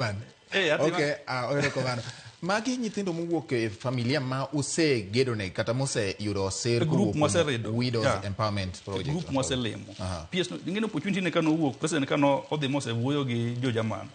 Bane. Eh, yathi ma- Okay, ah, ohero kogano. Magi nyithindo mowuok e familia ma usegedone kata moseyudo oser E group kowuok kuom mwaseredo. Widows Yeah. Empowerment E Project. group mwaselimo. Aha. PS no- ing'eni opportunity ne kano owuok, president kano odhi mosewuoyo gi jo Jerman.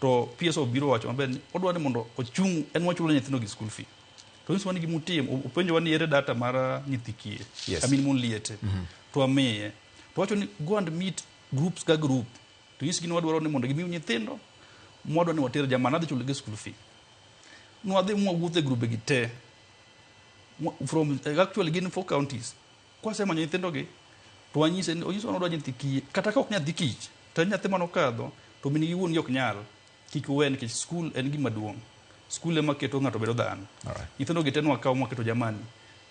To PS obiro wacho maber ni odwa ni mondo ochung' en wachulo nyithindo gi school fee. To inso wan gi mutim, o- openjowa ni ere data mar ah, nyithi kiye. Yes. I mean mon liete. To amiye. To wacho ni go and meet groups ka group. To nyisgi ni wadwaro ni mondo gimiu nyithindo, mwadwa ni water jamani, adhi chulogi school fee. Nwadhi mwawuotho e grube gi te. Mwa- From, eh, actually gin four counties. Kwasemanyo nyithindogi, to wanyise ni onyiso ni odwa nyathi kiye. Kata ka ok nyathi kich, to en nyathi mane okadho, to min gi wuon gi ok nyal. Kik uwe nikech skul en gima duong'. Skul ema keto ng'ato bedo dhano. Alright. Nyithindo gi te nwakawo mwaketo jamani.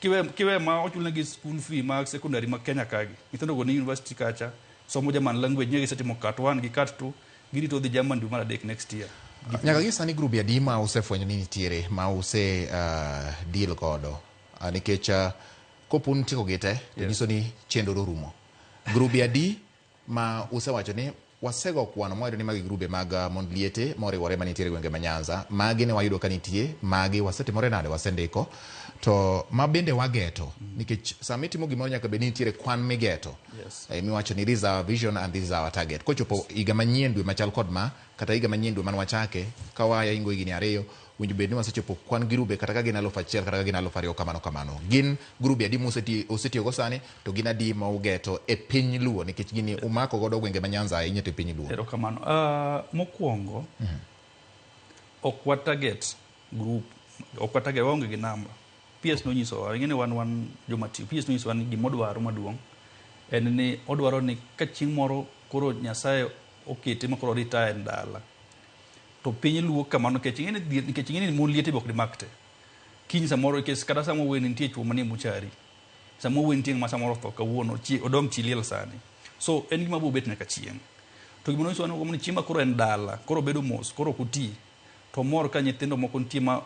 Kiwe, kiwe ma ochulnegi skul fee ma secondary ma Kenya kagi. Nyithindo go ni university kacha, somo German language, nyegi setimo kat one gi kat two, girito dhi German dwe mar adek next year. Gik Nyaka gi sani grube adi ma usefwenyo ni nitiere ma use ah, deal godo? Ah, Nikech ah, kopo un tieko gi te to nyiso ni chenro orumo. Grube adi ma usewacho ni wasego kwano mwayudo ni magi grube mag ah, mond liete moriwore ma nitiere gwenge ma Nyanza magi ne wayudo ka nitie magi wasetimore nade wasendiko to ma bende wageto nikech sama itimo gimoro nyaka bed ni nitiere kwan migeto Yes. Eh, miwacho ni this is our vision and this is our target kochopo higa manyien dwe machal kod ma kata higa manyien dwe mane wachake ka wayaingo higni ariyo Winjo bed ni wasechopo kwan girube kata ka gin aluf achiel kata ka gin aluf ariyo kamano kamano. Gin grube adi museti- usetiyogo sani to gin adi ma ugeto e piny Luo nikech gini umako godo gwenge ma Nyanza ahinya to e piny Luo. Erokamano. Ah, mokwongo ok wa target group, ok wa target waonge gi namba. PS nonyisowa, ing'e ni wan wan joma tiyo. PS nonyisowa ni gima odwaro maduong' en ni odwaro ni ka chieng' moro koro Nyasaye okete ma koro retire en dala, To piny luo kamano nikech ing'e ni dhier nikech ing'e ni mon liete be ok dimak te. Kiny samoro nikech kata sama oweni nitie chwo manie muchari. Sama oweni nitie ng'ama samoro otho kawuono chi odong' chi liel sani. So en gima biro bet nyaka chieng'. To gima nonyiso ni chiema koro en dala, koro obedo mos, koro ok oti. To omor ka nyithindo moko nitie ma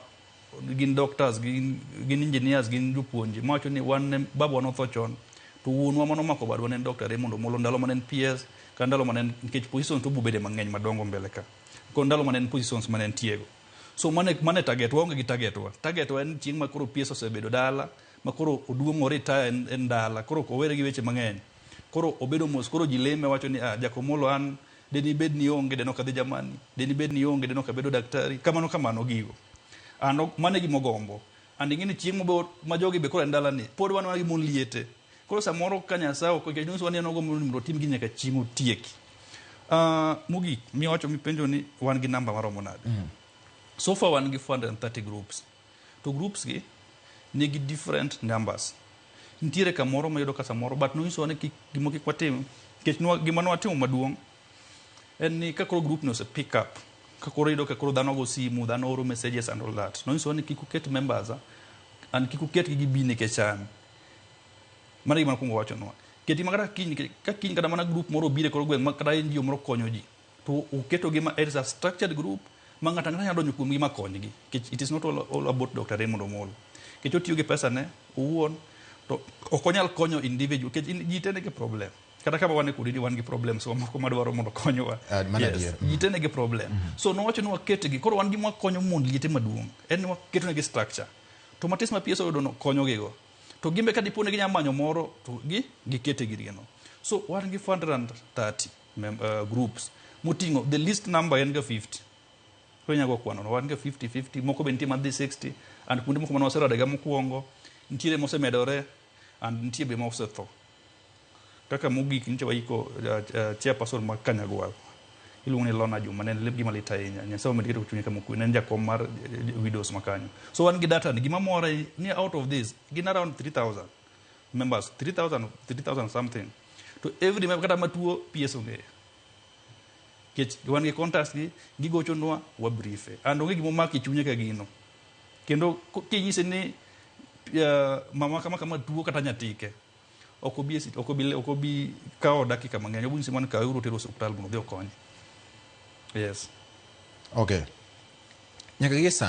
gin doctors gin, gin engineers gin jopuonje mawacho ni wan ne babawa notho chon to wuonwa mane omako badwa ne en Dr. Raymond Omolo ndalo mane en PS ka ndalo mane en nikech positions to bubede mang'eny madongo mbele ka ko ndalo mane en positions mane entiego so mane mane target waonge gi target wa target wa en chieng' ma koro PS osebedo dala ma koro oduong' o retire en, en dala koro ok owere gi weche mang'eny koro obedo mos koro ji leme wacho ni ah, Jakomolo an Deni bed ni onge, deno kadhi jamani. Deni bed ni onge, deno kabedo daktari. Kamano kamano gigo. An ok, mano e gima ogombo. And ing'e ni chieng' mabor, ma jogi be koro e ndala ni, pod wan mana gi mon liete. Koro samoro ka Nyasaye ok okecho, nyiso wan ni an ogombo ni mondo otim gi nyaka chieng' otieki. Uh, mogik, miwacho mipenjo ni wan gi namba maromo nade? Mm. So far wan gi 430 groups. To groups gi nigi different numbers. Nitiere kamoro mayudo ka samoro but nonyisowa ni kik gimo kik watim nikech nwa- gima nwatimo maduong' en ni ka koro group ni ose pick up ka koro iyudo ka koro dhano go simu dhano oro messages and all that nonyisowa ni kik uket members ah, and kik uketgi gibi nikech an mano e gima nakwongo wachonwa keti ma kata kiny nikech ka kiny kata mana group moro obire koro gweng' ma kata NGO moro konyo ji to oketogi ma as a structured group ma ng'ato ang'ata nyalo donjo kuomgi ma konygi nikech it is not all, all about Dr. Raymond Omolo nikech otiyo gi pesane owuon to ok onyal konyo individual nikech in- ji te nigi problem kata kama wan e kudi ni wan gi problems wa moko madwaro mondo konyowa Ah, mano adier. ji te nigi problem so nowacho ni waketgi koro wan gima wakonyo mond liete maduong' en ni waketonegi structure to matis ma PS oyudono konyogigo to gimbe ka dipo ni ginyalo manyo moro to gi gikete girgeno so wan gi fund run 30 mem- eh, groups moting'o the least number en ga 50 koro inyalo go kwanono wan ga 50 50 moko be nitie madhi 60 and kuonde moko mane waseradega mokwongo nitiere mosemedore and nitie be mosetho kaka mogik nitie waiko uh, uh, chairperson mag kanyagwal iluongo ni lona juma ne en gima lit ahinya nyasaye omed keto chunye kama okwe ne en jakom mar eh, widows makanyo so wan gi data ni gima mora ni out of this gin around 3000 members 3000 3000 something to every member kata matuo PS ong'eyo kech wan gi contacts gi gigochonwa wa briefe and onge gimo maki chunye ka gino kendo ko- kinyise ni uh, mama kama kama tuo kata nyatike ok obi esi- ok obi ok obi kawo dakika mang'eny obunyise man kawe uru tero hospital mondo odhi okonye yes okay nyaka gie sani